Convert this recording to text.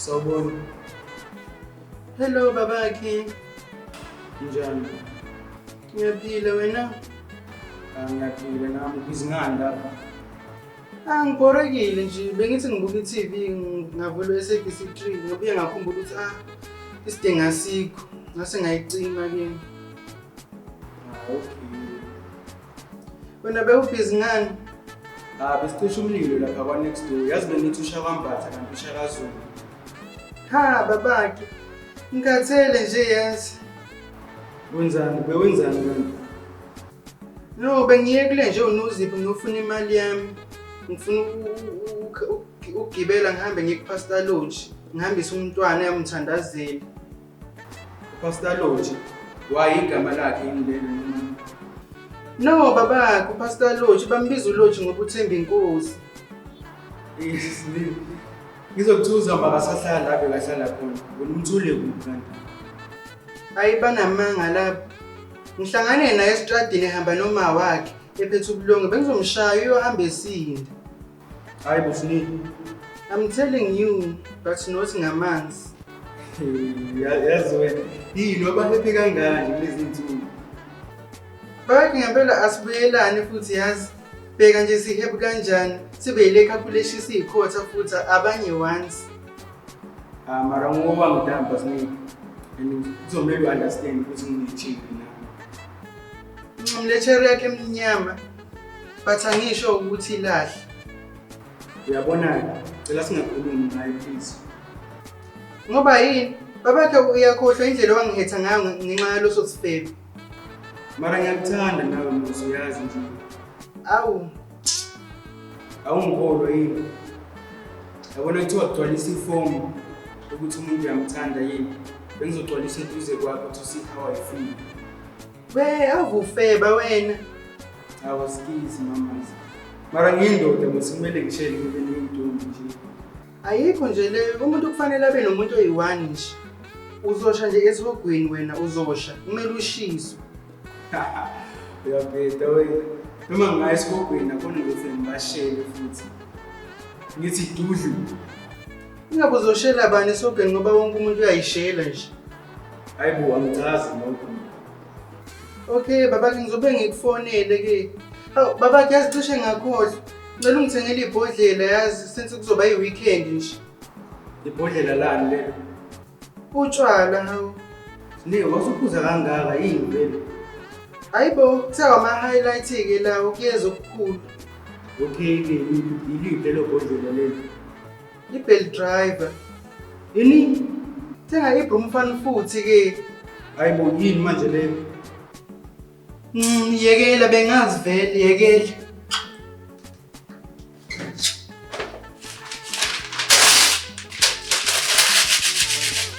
Sawubona. Hello babakhe. Njani? Ngiyaphila wena? Ah, ngiyaphila nami ngizingani lapha. Ah, ngibhorekile nje bengithi ngibuka i-TV ngavulwa i-SABC 3 ngobuye ngakhumbula ukuthi ah isidingo asikho ngase ngayicima ke. Ah, okay. Wena bewubhizi ngani? Ah, besicisha umlilo lapha kwa next door. Yazi bengithi usha kwambatha kanti usha kaZulu. Ha babakhe. Ngikhathele nje yazi. Wenzani? Bewenzani kanti? No, bengiye kule nje unozipho ngiyofuna imali yami. Ngifuna ukugibela ngihambe ngiye kuPastor Lodge. Ngihambise umntwana yamthandazela. Pastor Lodge, why igama lakhe indlela noma? No baba, kuPastor Lodge bambiza uLodge ngokuthemba inkosi. Yes, Lil. Ngizokuthuza maka sahlala lapho kahlala khona. Wena umthule kuphi kanti? Ayi banamanga lapho. Ngihlangane naye estradini ehamba noma wakhe ephethe ubulongo bengizomshaya uyohamba esinda. Hayi bufuni. I'm telling you but not ngamanzi. Yazi wena, yini obaphephe kangani kulezi nsuku? Bathi ngempela asibuyelane futhi yazi. Bheka nje sihebu kanjani sibe yile calculation siyikhotha futhi abanye once. Ah mara ngoba ngidamba siningi. And kuzomele understand ukuthi ngithini na. Mlechere yakhe emnyama But angisho ukuthi ilahle. Uyabona-ke, cela singakhulumi ngayo please. Ngoba yini? Babakhe uyakhohlwa indlela owangihetha ngayo ngenxa yaloso sifebe. Mara ngiyakuthanda nawe Musa uyazi nje. Awu, Awungikholwa yini? Yabona kuthiwa gcwalisa ifomu ukuthi umuntu uyamthanda yini. Bengizogcwalisa eduze kwakho to see how I feel. We avufeba wena. Awasikizi mama. Mara ngiyindoda mase kumele ngishele kube ngintombi nje. Ayikho nje le umuntu kufanele abe nomuntu oyi-one nje. Uzosha nje esihogweni wena uzosha kumele ushiswe. Uyabheda wena. Noma ngingaya esihogweni akhona ukuthi ngibashele futhi. Ngithi dudlu. Ingabe uzoshela bani esihogweni ngoba wonke umuntu uyayishela nje. Hayi bo angicazi nokho. Okay baba ngizobe ngikufonele ke. Hawu baba yazi cishe ngakhohlwa. Ngicela ungithengele ibhodlela yazi since kuzoba yi-weekend nje. Ibhodlela lani lelo? Utshwala hawu. Ne wasuphuza kangaka yini vele? Hayi bo kuthiwa ama-highlight ke lawo kuyeza okukhulu. Okay ke yiliphi lelo bhodlela lelo? Ibheli driver. Yini? Thenga ibroom mfana futhi ke. Hayi bo yini manje le? Mm, yekela bengazi vele yekela.